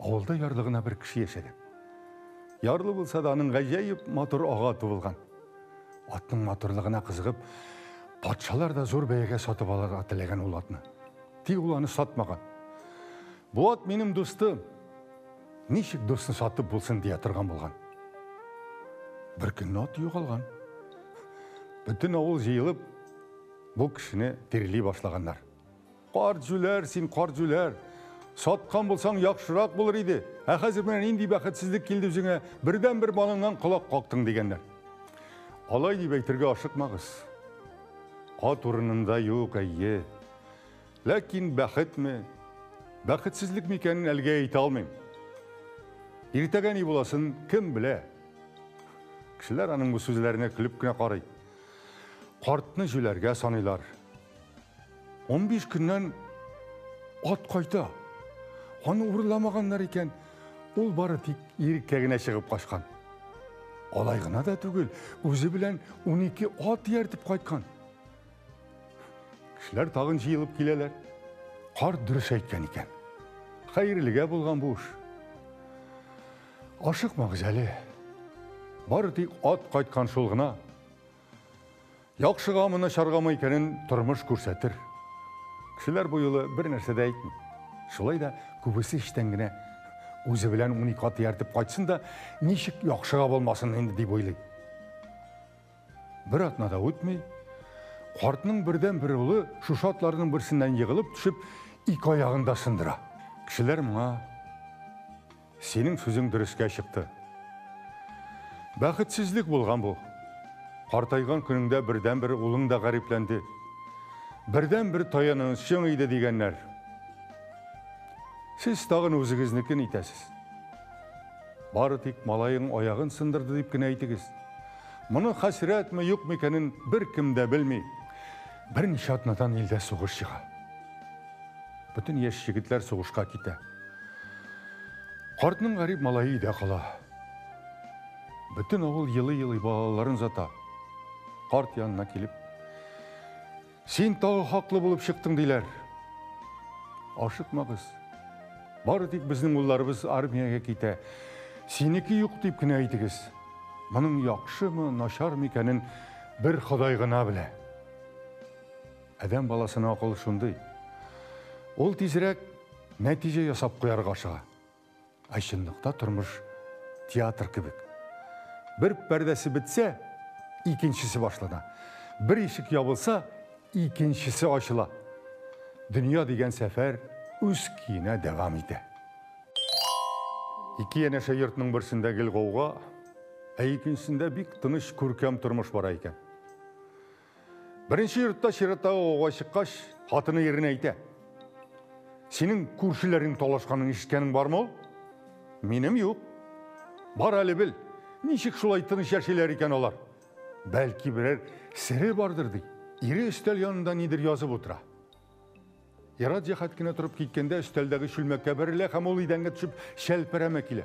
Авылда ярлы гына бер кеше яшәгән. Ярлы булса да, аның гаҗәеп матур ага туылган. Атның матурлыгына кызыгып, патшалар да зур бәягә сатып алырга теләгән ул атны. Тик ул аны сатмаган. Бу ат минем дустым. Ничек дусны сатып булсын дия торган булган. Бер көнне ат югалган. Бөтен авыл җыелып, бу кешене тирли башлаганнар. Карт җүләр, син карт җүләр! Саткан булсаң, яхшырак булыр иде. Ә хәзер менә нинди бәхетсезлек килде үзеңә, бердән-бер малыңнан колак кактың, дигәннәр. Алай дип әйтергә ашыкмагыз. Ат урынында юк, әйе. Ләкин бәхетме, бәхетсезлек микәнен әлегә әйтә алмыйм. Иртәгә ни буласын кем белә? Кешеләр аның бу сүзләренә көлеп кенә карый. Картны җүләргә саныйлар. 15 көннән ат кайта. Аны урламаганнар икән, ул бары тик иреккә генә чыгып качкан. Алай гына да түгел, үзе белән 12 ат ияртеп кайткан. Кешеләр тагын җыелып киләләр. Карт дөрес әйткән икән. Хәерлегә булган бу эш. Ашыкмагыз әле. Бары тик ат кайткан шул гына. Яхшыгамы, начаргамы икәнен тормыш күрсәтер. Кешеләр бу юлы бер нәрсә дә әйтми. Шулай да күбесе эчтән генә үзе белән унике ат ияртеп кайтсын да, ничек яхшыга булмасын инде дип уйлый. Бер атна да үтми, картның бердән бер улы шушы атларның берсеннән егылып төшеп, ике аягын да сындыра. Кешеләр моңа Синең сүзең дөрескә чыкты. Бәхетсезлек булган бу. Картайган көнеңдә бердәнбер улың да гарипләнде. Бердәнбер таянычың иде дигәннәр. Сез тагын үзегезнекен итәсез. Бары тик малаең аягын сындырды дип кенә әйтегез. Моны хәсрәтме, юкмы икәнен беркем дә белми. Берничә атнадан илдә сугыш чыга. Бөтен яшь егетләр сугышка китә. Картның гарип малае өйдә кала. Бөтен авыл елый-елый балаларын зата. Карт янына килеп, Син тагы хаклы булып чыктың, диләр. Ашыкмагыз. Бары тик безнең улларыбыз армиягә китә. Синеке юк дип кенә әйтегез. Моның яхшымы, начармы икәнен Бер Ходай гына белә. Адәм баласына акыл шундый. Ул тизрәк нәтиҗә ясап куярга ашыга. Ә чынлыкта тормыш театр кебек. Бер пәрдәсе бетсә, икенчесе башлана. Бер ишек ябылса, икенчесе ачыла. Дөнья дигән сәфәр үз көенә дәвам итә. Ике янәшә йортның берсендә гел гауга, ә икенчесендә бик тыныч күркәм тормыш бара икән. Беренче йортта чираттагы гауга чыккач, хатыны иренә әйтә. Синең күршеләрнең талашканын ишеткәнең бармы ул? Минем юк. Бар әле бел, ничек шулай тыныч яшиләр икән алар? Бәлки берәр сере бардыр ди. Ире өстәл янында нидер язып утыра. Ерат җәһәт кенә торып киткәндә өстәлдәге чүлмәккә бәрелә һәм ул идәнгә төшеп шәлперәмә килә.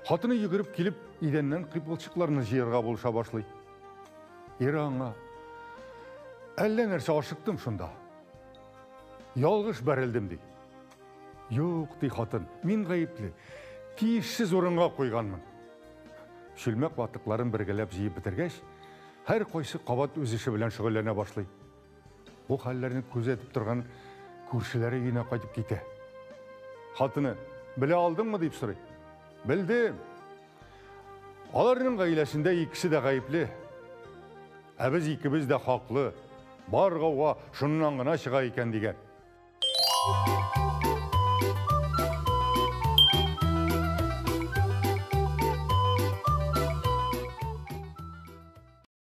Хатыны йөгереп килеп, идәннән кыйпылчыкларны җыярга булыша башлый. Ире аңа, әллә нәрсә ашыктым шунда. Ялгыш бәрелдем, ди. Юк, ди хатын, мин гаепле. Тиешсез урынга куйганмын. Чүлмәк ватыкларын бергәләп җыеп бетергәч, һәр кайсы кабат үз эше белән шөгыльләнә башлый. Бу хәлләрне күзәтеп торган күршеләре өенә кайтып китә. Хатыны, белә алдыңмы дип сорый. Белдем. Аларның гаиләсендә икесе дә гаепле. Ә без икебез дә хаклы. Бар гауга шуннан гына чыга икән дигән.